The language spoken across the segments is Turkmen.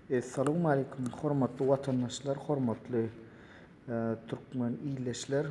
Essalowmaleýkum hormatly watandaşlar hormatly Türkmen illeşler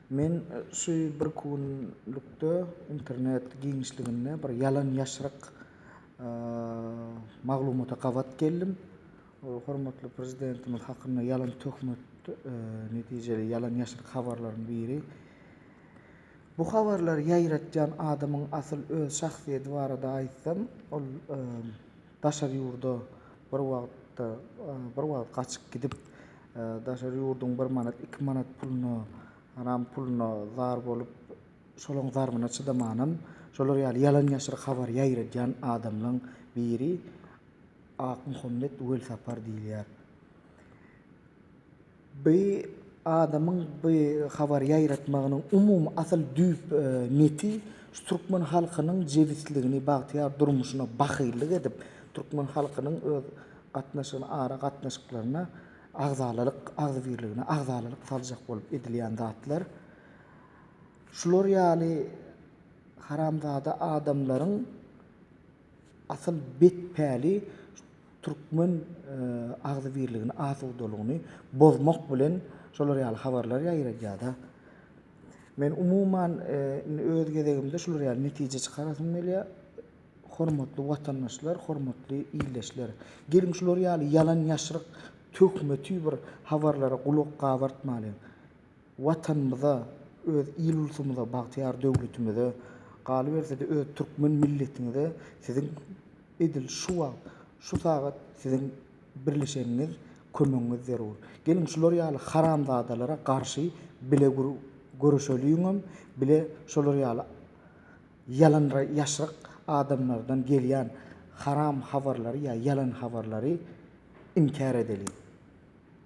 men şu bir kunlukda internet giňişliginde bir ýalan ýaşryk maglumata gabat geldim hormatly prezidentimiz hakynda ýalan töhmet netijeli ýalan ýaşryk habarlaryň biri Bu habarlary ýaýratýan adamyň asyl öz şahsyýeti barada aýtsam, ol daşary ýurda bir wagtda, bir wagt gaçyp gidip, daşary ýurduň bir manat, iki manat puluna, haram puluna zar bolup, şolaň zarbyna çydamanam, şolar ýaly ýalan-ýaşryk habar ýaýradýan adamlaň biri Akmuhammet Welsapar diýilýär. Bi adamyň bi habary ýaýratmagynyň umumy asyl düýp neti şu türkmen halkynyň jebisligini, bagtyýar durmuşyna bahyllyk edip, türkmen halkynyň öz gatnaşygyna, ara gatnaşyklaryna agzalalyk, agzybirligine agzalalyk saljak bolup edilýän zatlar. Şular ýaly haramzada adamlaryň Asyl bet päli türkmen agzybirligini asudalygyny bozmak bilen şolar ýaly habarlar ýaýradýada. Men umuman indi öz gezegimde şular ýaly netije çykarasym gelýä. Hormatly watandaşlar, hormatly ildeşler! Geliň şular ýaly ýalan ýaşryk töhmeti bir habarlara gulak gabartmalyň. Watanymyza, öz il-ulsumyza, bagtyýar döwletimize, galyberse-de öz türkmen milletiňize siziň edil şu wagt, şu sagat siziň birleşeniňiz, kömegiňiz zerur. Geliň şular ýaly haramzadalara garşy bile göreşeliňem, bile şolar ýaly ýalan ýaşryk adamlardan gelýän haram habarlary ýa ýalan habarlary inkär edeliň.